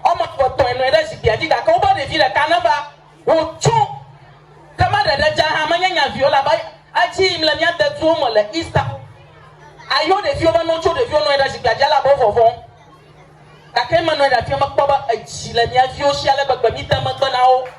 Woame eve tɔe nɔ anyi ɖe zikpuia dzi, gake woƒe ɖevi ɖeka neva. Wòtso. Ke be ɖeɖe dza hã menye nya vi o, elabe edzi yim le mía deduwo me le Easter. Ayɔ ɖeviwo be ne wotso, ɖeviwo nɔ anyi ɖe zikpuia dzi elabe wovɔvɔ̃. Gake menɔ anyi ɖe afia mekpɔ be edzi le mía viwo si ale gbegbe, míde megbe na wo.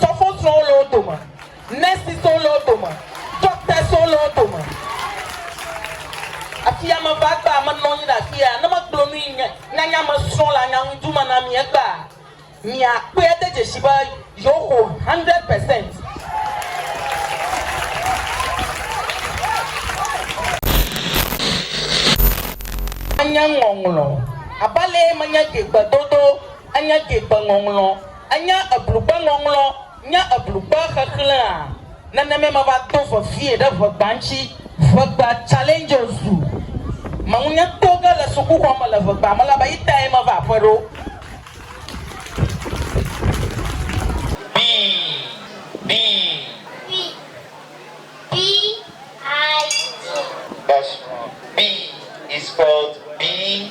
Sɔfosrɔwo le wo dome, nursesowo le wo dome, doctorswo le wo dome. Afi ya meva egbea, menɔ anyi ɖe afi ya, ne megblɔ nu yi nye nyanya me srɔ̃ le anyaŋuidu me na mi egbea, miakpɔe ade dzesi be yewoxɔ hundred percent. Menye ŋɔŋlɔ abe alee menye ɖi gbedodo Ènya Degbeŋɔŋlɔ? Ènya Eblugbeŋɔŋlɔ? Nya Eblugbe xexlẽa? Nenemae meva do vevie ɖe ʋegba ŋuti. Ʋegba, Challenges du mawunya to ge le sukuxɔ me le ʋegba me elabe eyi tae meva aƒe ɖo. Bii, bii. Bi, bii, ii, ii. That's wrong. Bii is spelled bii.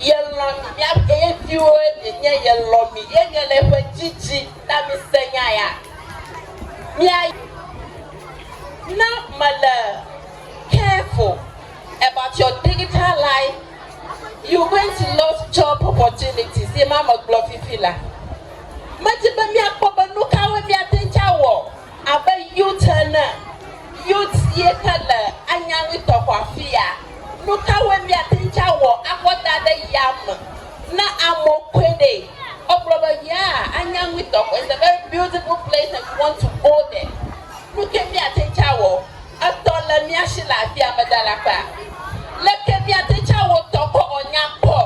Yelɔ̃ mi, míaƒe ye viwoe mienye, yelɔ̃ mi, ye nye le eƒe dzidzi na mise nya ya. Mía. Ne mele careful about your digital life, you going to lost job opportunities, ye ma megblɔ fifi la. Medi be míakpɔ be nukawoe míate ŋu awɔ. Abe youth ene, youth ye ke le anyaŋui tɔxɔ afia. Nukawoe míate ŋu tsɔ awɔ akɔ da ɖe yame ne amewo koe ɖe? Egblɔ be yeaa anyaŋui tɔxɔ, it's a very beautiful place and we want to go there. Nuke míate ŋu tsɔ awɔ? Etɔ le mía si le afia, ame dalaxea? Leke míate ŋu tsɔ awɔ tɔxɔ wòanya kpɔ?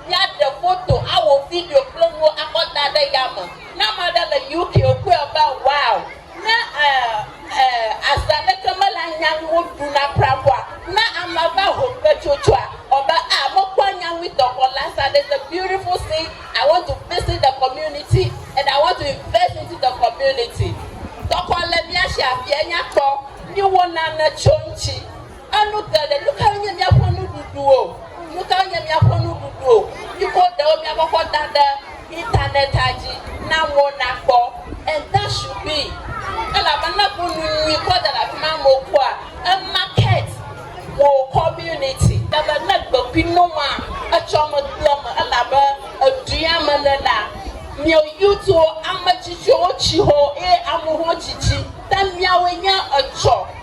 Míaɖe foto, awɔ video kple nuwo akɔ da ɖe yame. Ne ame aɖe le UK wokpɔe be, Wow! Ne e e ase aɖeke mele anya ŋu woɖuna prapoa, ne ame va ho kpetsotsoa, wɔ be, A, mekpɔ anya ŋui dɔ kɔ Lhasa. There's a beautiful scene, I want to visit the community and I want to invest into the community. Dɔkɔ le mía shi afia nya kpɔ. Míwɔ nane tso eŋuti. Enu te ɖe, nu kae nye míaƒe nuɖuɖu o? Nu kae nye míaƒe nuɖuɖu o? Mikɔ ɖewo miakɔkɔ da ɖe Internet-a dzi na amewo nakpɔ. And that should be. Elabena bu nu nyui kɔ da ɖe afi ma amewo kpɔa, e market wò community. Ebe ne gbe kui nɔma, etsɔ me kple me elabe edua me ne la, miɔ youthwo, ame tsitsiwo tsi ho eye amewo hã tsi tsi. Ta miawoe nye etsɔ.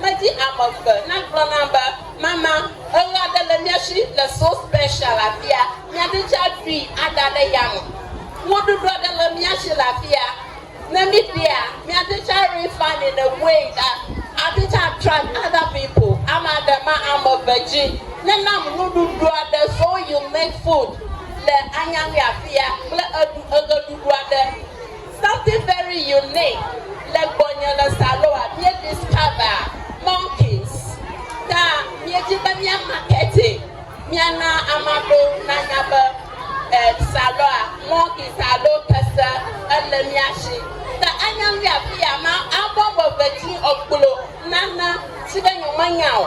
Medi ame eve nagblɔ nam be, Mama, eɣe aɖe le mía si le So Special afia, míaɖi tsa ɖui ada ɖe yame. Nuɖuɖu aɖe le mía si le afia, ne míɖia, míaɖi tsa refund yi ne wei ɖa, aɖi tsa attract other people, ame aɖe ma ame eve dzi ne nam nuɖuɖu aɖe So Unique Food le Anyaŋui afia kple eɖu eɣeɖuɖu aɖe. Something very unique le gbɔnye le Saloa, mie discover monkeys ta mie di be mia markete mia na amaɖo na nya be Saloa monkeys alo kese ele mia shi ta anya nui afiya ma abɔ be ve dzi ɔkplo nana tsi be nyo me nya o.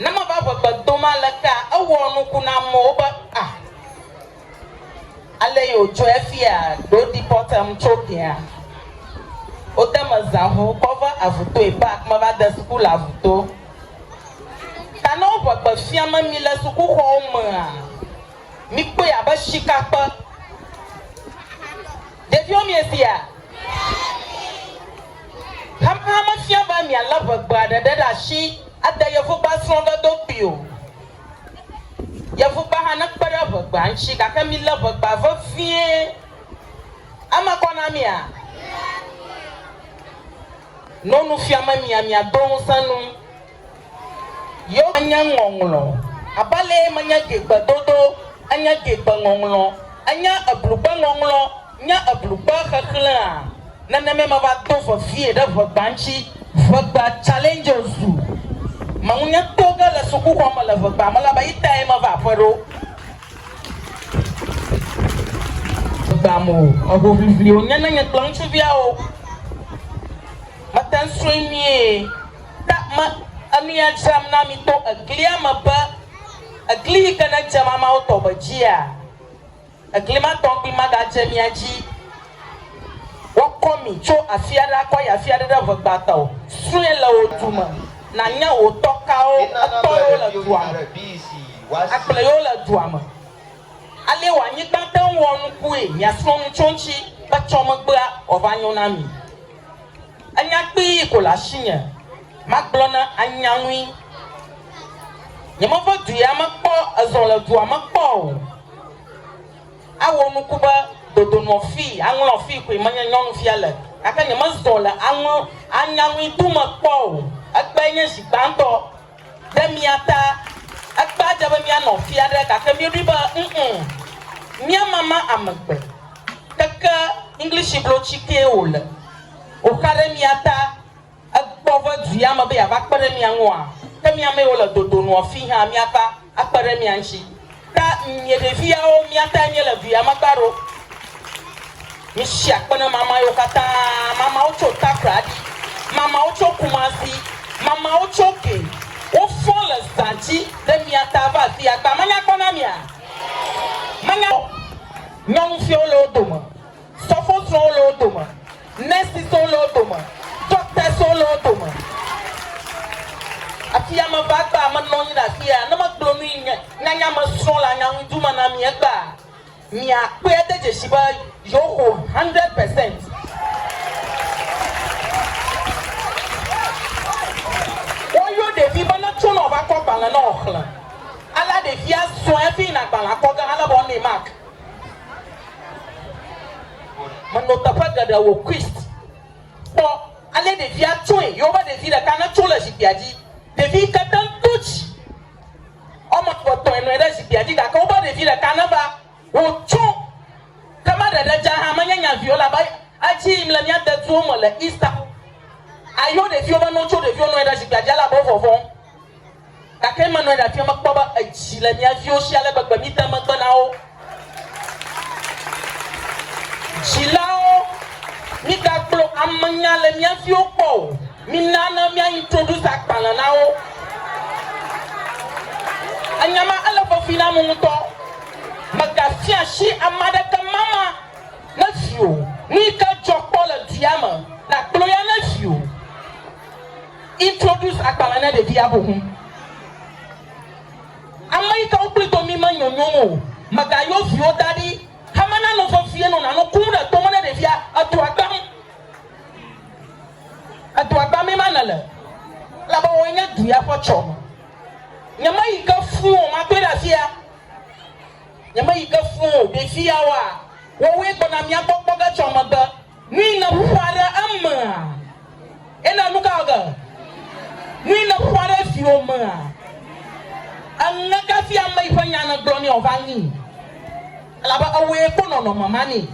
Ne meva ʋegbe dom alekea, ewɔ nuku na amewo be, Ah, ale ye wòdzɔe efia ɖo deportem tso Ghea. Wode mezã ŋu kɔ va Avutoe Park meva de suku le Avuto. Ta ne wo ʋegbe fiame mi le sukuxɔwo mea, mikpɔe abe shikakpe. Ɖeviwo miefia? Hamea mefia be mialé ʋegbea ɖeɖe ɖe asi ade Yevugba srɔ̃ɖe do kpli o. Yevugba hã nekpe ɖe ʋegbea ŋuti gake milé ʋegbea vevie. Eme kɔ na mia? No nufiame mia miado ŋusẽ nu. Yewo menye ŋɔŋlɔ abe alee menye dzigbedodo, enye dzigbeŋɔŋlɔ, enye eblugbeŋɔŋlɔ, nye eblugbexexlẽa. Nenemae meva do vevie ɖe ʋegba ŋuti, ʋegba, challenges, zu meŋunye to ge le sukuxɔ me le ʋegba me la be eyi tae meva aƒe ɖo. Ʋegba me o, ehoʋiʋli wònye ne nye kple ŋutsuviawo mete ŋu srɔ̃e nyuie. Ɖe me, enu ya dzram na mi to eglia me be, egli yi ke nedze mamao tɔ me dzia, egli ma tɔ ŋgbi magadze mia dzi. Woakɔ mi tso afi aɖe akɔ yi afi aɖe ɖe ʋe gbãtɔ. Srɔ̃e le wò du me, nànya wò tɔ kawo etɔ yewo le dua me, akplɔe yewo le dua me. Alee wò anyigba te ŋu wɔ nukue, miasrɔ̃ nu tso eŋuti be tsɔ megbea, wòava nyo na mi. Enya kpii ko le asinye magblɔ na anyaŋui. Nyemeve du ya me kpɔ ezɔ le dua me kpɔ o. Awɔ nuku be dodonɔ fii aŋlɔ fii koe menye nyɔnuvia le gake nyemezɔ le aŋlɔ anyaŋui du me kpɔ o. Egbae nye zi gbãtɔ. Ɖe mía ta. Ekpea dze be míanɔ fia ɖe gake míeɖoe be ŋŋ, míamama ame gbe. Keke English blotsi kee wòle. Wòxa ɖe mía ta. Egbɔ ve du ya me be yeava kpe ɖe mía ŋua? Ke mí amewo le dodo nua fii hã míava akpe ɖe mía ŋutsi. Ta mie ɖeviawo miatae mie le duya magba ɖo misi akpe ne mama yo katã mama wo tso takradi mama wo tso kumasi mama wo tso ke wo fɔ le zati ɖe miata va afi agba menya kpɔ na mia menya nyɔnufiwo le wo dome Sɔfosrɔwo le wo dome, nursesowo le wo dome, doctorswo le wo dome. Afia meva egbea, menɔ anyi ɖe afia, ne megblɔ nu yi nye nyanya me srɔ le anyaŋuidu me na mi egbea, miakpɔe ade dzesi be yewoxo hundred percent. Woyɔ ɖevi be netso ne wòava kɔ gbalẽ ne wòxlẽ. Alea ɖevia zɔe hafi yina gbalẽa kɔge alebe woanɛ mark. Menɔ teƒe geɖe wò Christ. Kpɔ ale ɖevia tsɔe. Yewoƒe ɖevi ɖeka ne tso le zikpuia dzi. Ɖevi yi ke te ŋu do dzi. Woame eve tɔe nɔe ɖe zikpuia dzi gake woƒe ɖevi ɖeka ne va. Wò tsɔ. Ke me ɖeɖe dze hã menye nya vi o elabe edzi yim le mía deduwo me le Easter. Ayɔ ɖeviwo be ne wotso ɖeviwo nɔ anyi ɖe zikpuia dzi elabe wo vɔvɔm. Gake menɔe ɖe afia mekpɔ be edzi le mía viwo si ale gbegbe mide megbe na wo. Dzilawo, migagblɔ amenya le mía viwo gbɔ o. Mina ne mía introduce agbalẽ na wo. Enya ma ele vevi nam ŋutɔ. Mègafia asi ame aɖeke mama ne viwò. Nuyike dzɔ kpɔ le dua me, nàkplɔ ya ne viwò. Introduce agbalẽ na ɖevia xoxo. Ame yi ke wokpli do mi menyo nyom o. Mègayɔ viwo da ɖi hama nano vevie no nano ku ɖe to me ne ɖevia. Edua gbam. Edua gbamee ma nèle elabe wòe nye du ya ƒe tsɔme. Nyemeyi ke fũ o, makpɔe ɖe afia. Nyemeyi ke fũ o, ɖeviawoa, woawoe gbɔna mía gbɔ kpɔ ge tso megbe. Nui le ƒuƒua ɖe emea? Ena nuka ɔge? Nui le ƒuƒua ɖe viwo mea? Eŋe ka fia ame yi ƒe nya ne gblɔ nɛ ɔva ŋi? Elabe ewɔe kpo nɔnɔme ma nɛ.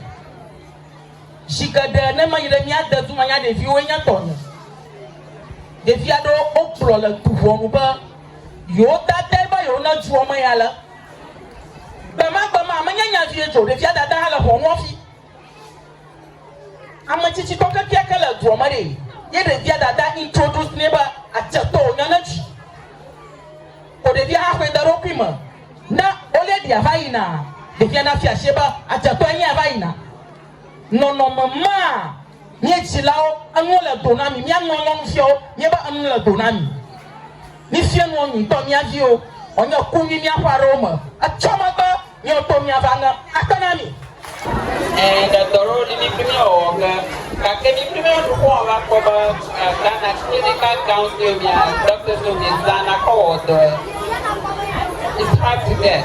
Zi geɖe ne meyi ɖe mía dedu me nya ɖeviwoe nye tɔnye. Ɖevi aɖewo wogblɔ le du ʋɔnu be yewo dadae be yewo ne dua me ya le. Gbemagbema menye nya vie dzi o ɖevia dada hã le ʋɔnua fi. Ame tsitsitɔ kekeake le dua me ɖee ye ɖevia dada introduce nɛ be adzetɔ wònya ne dzi o. Ɖevia haxɔe de eɖokui me. Ne olady va yinaa, ɖevia nafia asie be adzetɔe nye ya va yina. Nɔnɔme maa, Mí dzilawo, enu le do na mí. Mía nyɔnyɔnufiawo, míebe enu le do na mí. Mífia nuwo nyuitɔ mía viwo wòanye ku nyui míaƒe aɖewo me etsɔ megbe míawo to míava ŋe akpe na mí. Ẽ, ɖe dɔ ɖewo li míkpli mía wɔwɔ ke, gake míkpli mía nuxlɔ̃ va kpɔ be Ghana klinika gãwo siwo mía dɔkita siwo míezãna kɔ wɔdɔe. It's hard to get.